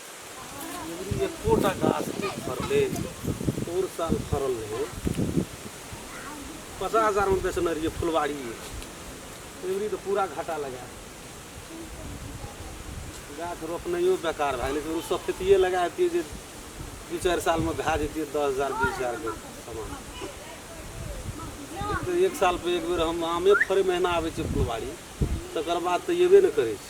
अँगुरी एकोटा गाछ नहि फड़लै आओर साल फड़ल रहै पचास हजारमे बेचने रहियै फुलवारी अँगुरी तऽ पूरा घाटा लगा गाछ रोपनाइयो बेकार भए गेलै ओ सफेतिए लगा दियै जे दू चारि सालमे भए जैतियै दस हजार बीस हजारके सामान एक साल पर एक बेर हम आमे फड़ै महीना आबै छियै फुलवारी तकर बाद तऽ अयबे नहि करै छै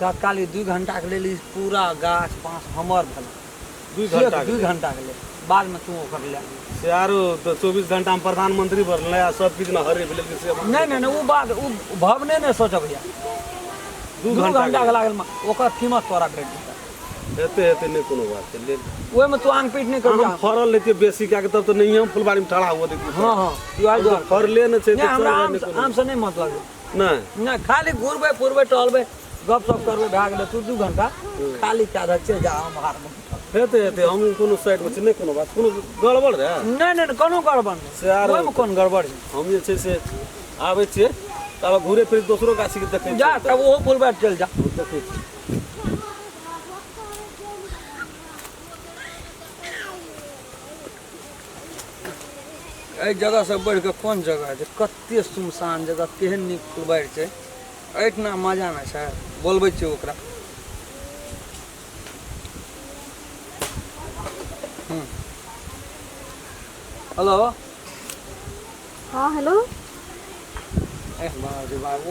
तत्काल ई दू घण्टाके लेल ई पूरा गाछ बाँस हमर भेल दू घण्टा दू घण्टाके लेल बादमे तू ओकर लए से आरो तऽ चौबीस घण्टामे प्रधानमंत्री पर नया सब किछु ने हरे भेलै से नहि नहि नहि ओ बात ओ भवने नहि सोचब भैया दू घण्टाके लागल ओकर कीमत तोरा भेट जेतै हेतै हेतै नहि कोनो बात छै लेल ओहिमे तू आन पीट नहि कर हम फड़ल लेतियै बेसी कए कऽ तब तऽ नहिए हम फुलबाड़ीमे ठड़ा हुअ देतियै हँ हँ फड़ले नहि छै हमरा आमसँ नहि मतलब नहि नहि खाली घुरबै फुरबै टहलबै गप सप करबै भए गेलै तू दू घंटा खाली कए दे चलि जा हम हारमे हेतै हेतै हम कोनो साइडमे छी नहि कोनो बात कोनो गड़बड़ रहै नहि नहि नहि, कोनो गड़बड़ नहि से आरो- ओहिमे कोन गड़बड़ छै हम जे छै से आबै छियै तब घूरे फिर दोसरो गाछीके देखै जा छियै तब ओहो फुलबै चलि जा हम देखै छी एहि जगहसँ बढ़ि कऽ कोन जगह छै कते सुनसान जगह केहन नीक फुलबारि छै एहिठिना मजा नहि छै बोलबै छियै ओकरा हेलो हँ हेलो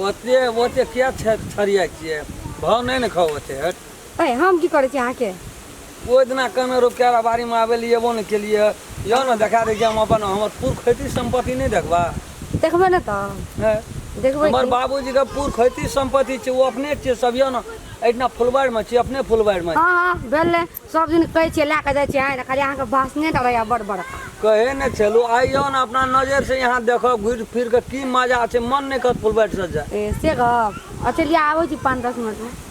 ओते ओते किया छरिया छियै भाव नहि ने खाओ ओते हट हम की करै छी अहाँके ओहि दिना कमे रोप कए बाड़ीमे आबै लए एबो नहि केलियै यौ ने देखा दै छी हम अपन हमर पूर्व खेती सम्पत्ति नहि देखबा देखबै ने तऽ हैं? देखबै हमर की बाबूजीके पूर्व खेती सम्पत्ति छै ओ अपने छियै सब यौ ने एहिठिना फुलबाड़िमे छी अपने फुलबाड़िमे हँ हँ भेलै सब दिन कहै छियै लए कऽ जाइ छियै आँय, खाली अहाँके भाषणे टा रहैया बड़ बड़का कहै ने छलहुँ आइ यौ ने अपना नजरिसँ यहाँ देखब घुरि फिरि कऽ की मजा छै मन नहि कहत फुलबाड़िसँ जाय ए से गप अच्छा लिअ आबै छी पाँच दस मिनटमे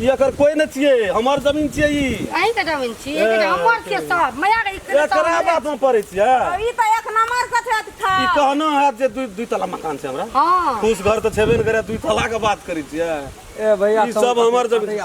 ई एकर कोई न छिए हमर जमीन छिए ई अहीं के जमीन छी ए। एकटा हमर के सब मैया के इकरे सब एकरा हमरे। बात में पड़े छिए ई तऽ एक नंबर के छथि ई खा कहना है जे दुई दुई तला मकान छै हमरा हाँ खुश घर तऽ छेबे ने करे दुई तला के बात करै छिए ए भैया ई सब हमर जमीन